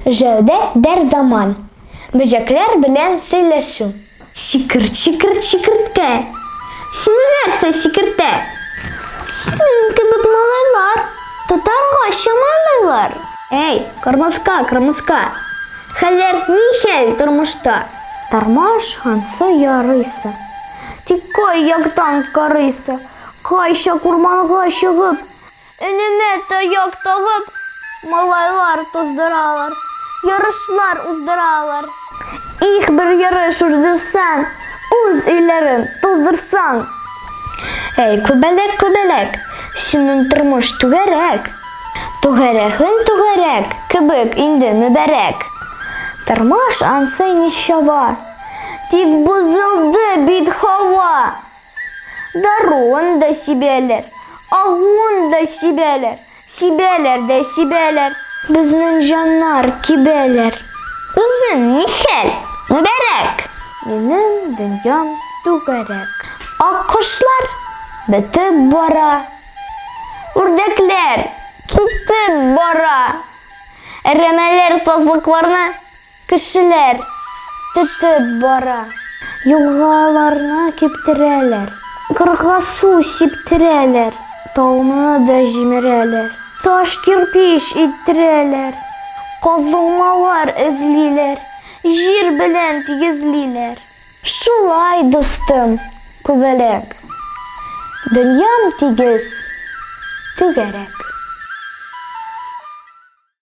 Җәүдәт дәр заман. Бөҗәкләр белән сөйләшү. Чикер, чикер, чикерткә. Сине нәрсә чикертә? Синең кебек малайлар тотарга чамалыйлар. Әй, кырмыска, кырмыска. Хәлләр нихәл тормышта? Тормыш ансы ярыйсы. Тик кай яктан карыйсы? Кайчак урманга чыгып, Өнемә таяк тагып, малайлар туздыралар, ярышлар уздыралар. Их, бер ярыш уздырсаң, үз өйләрен туздырсаң. Әй, күбәләк, күбәләк, синең тормыш түгәрәк. Түгәрәгең түгәрәк кебек инде мөбарәк. Тормыш ансы ничава, тик бозылды бит һава. Даруын да сибәләр, агуын да сибәләр, сибәләр дә сибәләр. Безнең җаннар кибәләр. Үзең нихәл, Мөбарәк? Минем дөньям түгәрәк. Аккошлар бетеп бара. Үрдәкләр китеп бара. Әрәмәләр сазлыкларны. Кешеләр тетеп бара. Елгаларны киптерәләр. Кырга су сиптерәләр. Тауны да җимерәләр. Таш кирпич иттерәләр. Казылмалар эзлиләр. Җир белән тигезлиләр. Шулай, дустым, күбәләк. Дөньям тигез, түгәрәк.